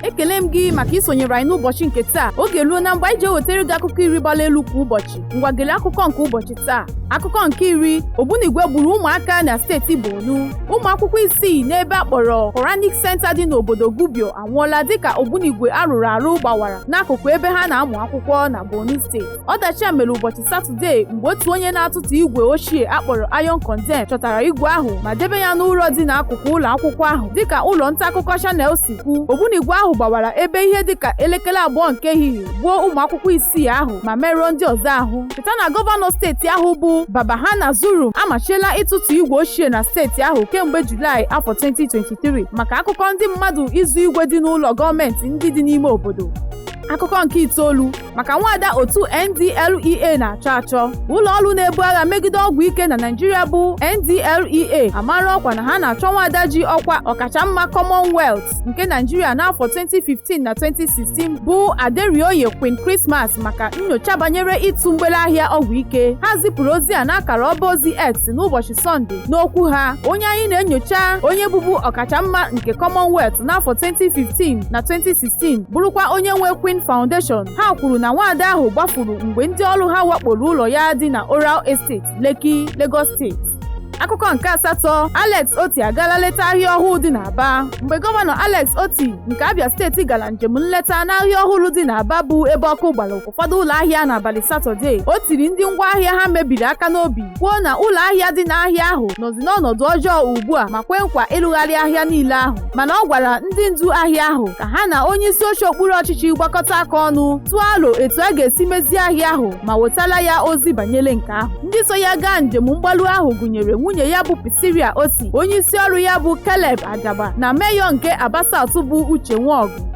ekele m gị maka isonyere anyị n'ụbọchị nke taa oge eruola mgbe anyị ji ewetara gị akụkọ iri gbara elu kwa ụbọchị ngwa gele akụkọ nke ụbọchị taa akụkọ nke iri ogbunigwe gburu ụmụaka na steeti Borno ụmụ akwụkwọ isii n'ebe a kpọrọ Quranic Center dị n'obodo Gubio anwụọla dịka ogbunigwe a rụrụ arụ gbawara n'akụkụ ebe ha na-amụ akwụkwọ na Borno steeti Ọdachi a mere ụbọchị Satọdee mgbe otu onye na-atụtụ igwe ochie a kpọrọ Iron Condemn chọtara igwe ahụ ma debe ya n'ụlọ dị n'akụkụ ụlọ akwụkwọ ahụ dịka ụlọ nta akụkọ Channels si kwu ogbunigwe ahụ gbawara ebe ihe dịka elekere abụọ nke ehihie gbuo ụmụ akwụkwọ isii ahụ ma merụọ ndị ọzọ ahụ cheta na gọvanọ steeti ahụ bụ Babagana Zulum amachiela ịtụtụ igwe ochie na steeti ahụ kemgbe Julaị afọ 2023 maka akụkọ ndị mmadụ izu igwe dị n'ụlọ gọọmenti ndị dị n'ime obodo akụkọ nke itoolu maka nwaada otu NDLEA na-achọ achọ ụlọ ọrụ na-ebu agha megide ọgwụ ike na Naịjirịa bụ NDLEA amara ọkwa na ha na-achọ nwaada ji ọkwa ọkachamma Commonwealth nke Naịjirịa n'afọ 2015 na 2016 bụ Aderinoye Queen Christmas maka nnyocha banyere ịtụ mgbere ahịa ọgwụ ike ha zipụrụ ozi a n'akara ọba ozi X n'ụbọchị Sọnde n'okwu ha onye anyị na-enyocha onye bụbu ọkachamma nke Commonwealth n'afọ 2015 na 2016 bụrụkwa onye nwe Queen Foundation ha kwuru na nwaada ahụ gbafuru mgbe ndị ọrụ ha wakporo ụlọ ya dị na Oral Estate Lekki Lagos steeti akụkọ nke asatọ Alex Otti agaala leta ahịa ọhụụ dị n'Aba mgbe gọvanọ Alex Otti nke Abia steeti gara njem nleta n'ahịa ọhụrụ dị n'Aba bụ ebe ọkụ gbara ụfọdụ ụlọ ahịa n'abalị satọde o tiri ndị ngwa ahịa ha mebiri aka n'obi kwuo na ụlọ ahịa dị n'ahịa ahụ nọzi n'ọnọdụ ọjọọ ugbu a ma kwe nkwa ịlụgharị ahịa niile ahụ mana ọ gwara ndị ndu ahịa ahụ ka ha na onye isi oche okpuru ọchịchị gbakọta aka ọnụ tụọ alo etu a ga-esi mezie ahịa ahụ ma wetala ya ozi banyere nke ahụ ndị so ya gaa njem mgbalu ahụ gụnyere nwunye ya bụ Priscilla Otti onye isi ọrụ ya bụ Caleb Ajagba na meyọ nke Aba South bụ Uche Nwaọgụ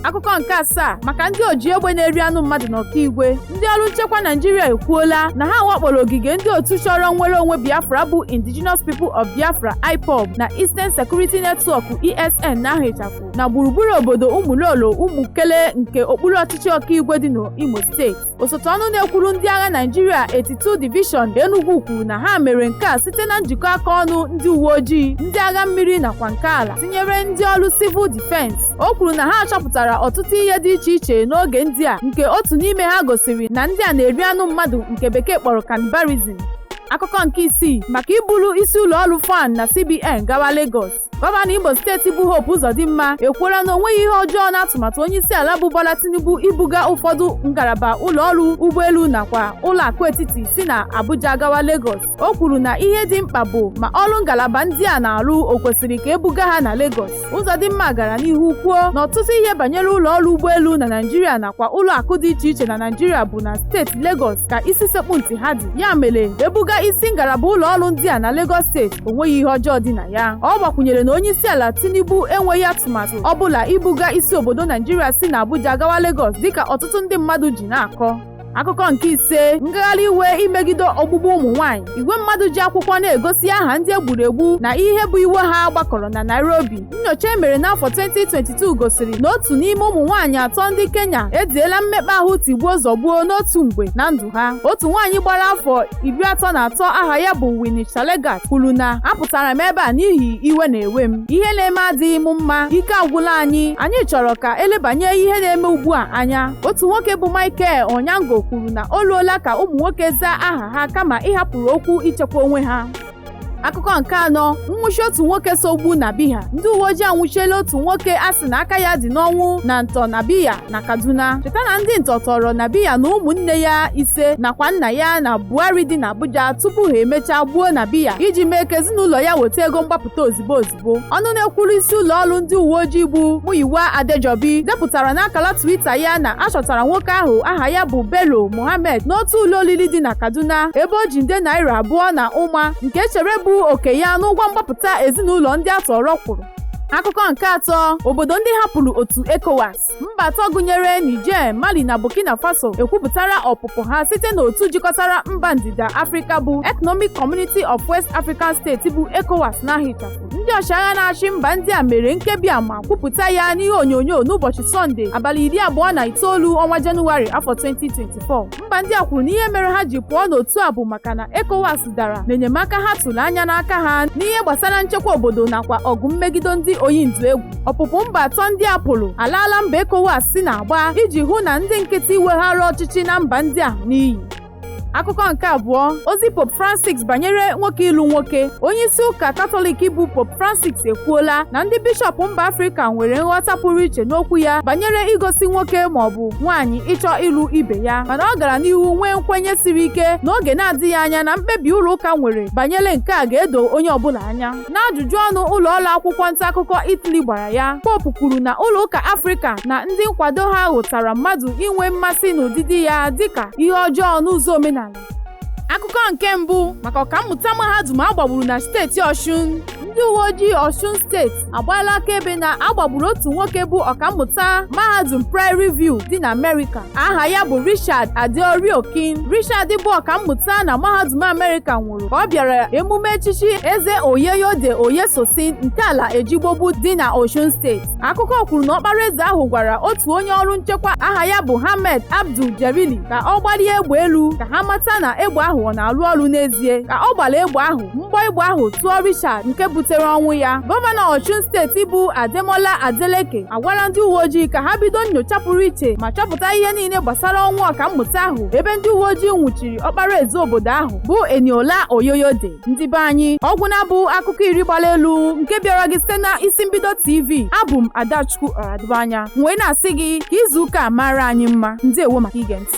akụkọ nke asaa maka ndị oji egbe na-eri anụ mmadụ na okigwe ndị ọrụ nchekwa naịjirịa ekwuola na ha wakporo ogige ndị otu chọrọ nnwere onwe biafra bụ indigenous people of biafra ipob na eastern security network esn na-ahịchapụ na gburugburu obodo ụmụlolo ụmụkele nke okpuru ọchịchị okigwe dị n'imo steeti osote ọnụ na-ekwuru ndị agha Naịjirịa 82 Division Enugu kwuru na ha mere nke a site na njikọ aka ọnụ ndị uwe ojii ndị agha mmiri nakwa nke ala tinyere ndị ọrụ civil defense o kwuru na ha chọpụtara ọtụtụ ihe dị iche iche n'oge ndị a nke otu n'ime ha gosiri na ndị a na-eri anụ mmadụ nke bekee kpọrọ cannibalism akụkọ nke isii maka iburu isi ụlọ ọrụ FAAN na CBN gawa Lagos gọvanọ imo steeti bụ hope ụzọdịmma ekwuola na o nweghị ihe ọjọọ n'atụmatụ onye isi ala bụ bola tinubu ibuga ụfọdụ ngalaba ụlọ ọrụ ụgbọelu nakwa ụlọ akụ etiti si na abuja gawa lagos o kwuru na ihe dị mkpa bụ ma ọrụ ngalaba ndị a na-arụ o kwesịrị ka ebuga ha na lagos ụzọdịmma gara n'ihu kwuo na ọtụtụ ihe banyere ụlọ ọrụ ụgbọelu na naijiria nakwa ụlọ akụ dị iche iche na naijiria bụ na steeti lagos ka isi sekpu ntị ha dị ya mere ebuga isi ngalaba ụlọ ọrụ ndị a na Lagos steeti o nweghị ihe ọjọọ dị na ya ọ gbakwunyere na onye isi ala Tinubu enweghị atụmatụ ọ bụla ibuga isi obodo Naijiria si na Abuja gawa Lagos dịka ọtụtụ ndị mmadụ ji na-akọ akụkọ nke ise ngagharị iwe imegide ogbugbu ụmụ nwaanyị igwe mmadụ ji akwụkwọ na-egosi aha ndị e gburu egbu na ihe bụ iwe ha gbakọrọ na Nairobi Nnyocha e mere n'afọ 2022 gosiri na otu n'ime ụmụ nwaanyị atọ ndị Kenya ediela mmekpa ahụ tigbuo zọgbuo n'otu mgbe na ndụ ha. Otu nwaanyị gbara afọ iri atọ na atọ aha ya bụ Winnie Chalegat kwuru na apụtara m ebe a n'ihi iwe na-ewe m. Ihe na-eme adịghị m mma, ike agwụla anyị, anyị chọrọ ka elebanye ihe na-eme ugbu a anya. Otu nwoke bụ Michael Onyango kwuru na o ruola ka ụmụ nwoke zaa aha ha kama ịhapụrụ okwu ichekwa onwe ha. akụkọ nke anọ nwụchi otu nwoke so gbuo nabeeha ndị uwe ojii anwụchiela otu nwoke a sị na aka ya dị n'ọnwụ na ntọ nabeeha na kaduna cheta na ndị ntọ tọọrọ nabeeha na ụmụnne ya ise nakwa nna ya na bwari dị n'abuja tupu ha emechaa gbuo nabeeha iji mee ka ezinụlọ ya weta ego mgbapụta ozigbo ozigbo ọnụ na-ekwuru isi ụlọ ọrụ ndị uwe ojii bụ Muyiwa Adejobi depụtara n'akara Twitter ya na a chọtara nwoke ahụ aha ya bụ Bello Mohammed n'otu ụlọ oriri dị na Kaduna ebe o ji nde naira abụọ na ụma nke e chere bụ oke ya n'ụgwọ mgbapụta ezinụlọ ndị a tọrọ kwụrụ akụkọ nke atọ obodo ndị hapụrụ otu ECOWAS mba atọ gụnyere Niger, Mali na Burkina Faso ekwupụtala ọpụpụ ha site n'otu jikọtara mba ndịda Afrịka bụ Economic Community of West African States bụ ECOWAS n'aha ịchafụ ndị ọchịagha na-achị mba ndị a mere mkpebi a ma kwupụta ya n'ihe onyonyo n'ụbọchị Sọnde abalị iri abụọ na itoolu ọnwa Jenụwarị afọ 2024 mba ndị a kwuru na ihe mere ha ji pụọ n'otu a bụ maka na ECOWAS dara n'enyemaka ha tụrụ anya n'aka ha n'ihe gbasara nchekwa obodo nakwa ọgụ mmegido ndị oyi ndụ egwu ọpụpụ mba atọ ndị a pụrụ alaala mbọ ECOWAS si na-agba iji hụ na ndị nkịtị weghara ọchịchị na mba ndị a n'iyi akụkọ nke abụọ ozi pope francis banyere nwoke ịlụ nwoke onye isi ụka katọlik bụ pope francis ekwuola na ndị bishọp mba afrịka nwere nghọta pụrụ iche n'okwu ya banyere ịgọzi nwoke maọbụ nwaanyị ịchọ ịlụ ibe ya mana ọ gara n'ihu nwee nkwenye siri ike n'oge na-adịghị anya na mkpebi ụlọ ụka nwere banyere nke a ga-edo onye ọbụla anya n'ajụjụ ọnụ ụlọ ọrụ akwụkwọ nta akụkọ Italy gbara ya popu kwuru na ụlọ ụka Afrịka na ndị nkwado ha hụtara mmadụ inwe mmasị n'ụdịdị ya dịka ihe ọjọọ n'ụzọ omenala akụkọ nke mbụ maka ọkammụta mahadum agbagburu na steeti ọshun ndị uwe ojii ọshun steeti agbaala akaebe na agbagburu otu nwoke bụ ọkammụta mahadum prairie view dị na amerịka aha ya bụ richard adeoriokin richard bụ ọkammụta na mahadum amerịka nwụrụ ka ọ bịara emume echichi eze oyeyode oyesosin nke ala ejigbobu dị na oshun steeti akụkọ kwuru na ọkpara eze ahụ gwara otu onye ọrụ nchekwa aha ya bụ Hamed Abdul Jerili ka ọ gbalie egbe elu ka ha mata na egbe ahụ ọ na-arụ ọrụ n'ezie ka ọ gbara egbe ahụ mgbọ egbe ahụ tụọ Richard nke butere ọnwụ ya gọvanọ Ọshun steeti bụ Ademola Adeleke agwala ndị uwe ojii ka ha bido nnyocha pụrụ iche ma chọpụta ihe niile gbasara ọnwụ ọkammụta ahụ ebe ndị uwe ojii nwụchiri ọkpara eze obodo ahụ bụ Eniola Oyoyode ndị be anyị ọ gwụna bụ akụkọ iri gbara elu nke bịara gị site na isi mbido tv abụ m adachukwu ọradụbanya wee na-asị gị ka izu ụka a mara anyị mma ndewo maka ige ntị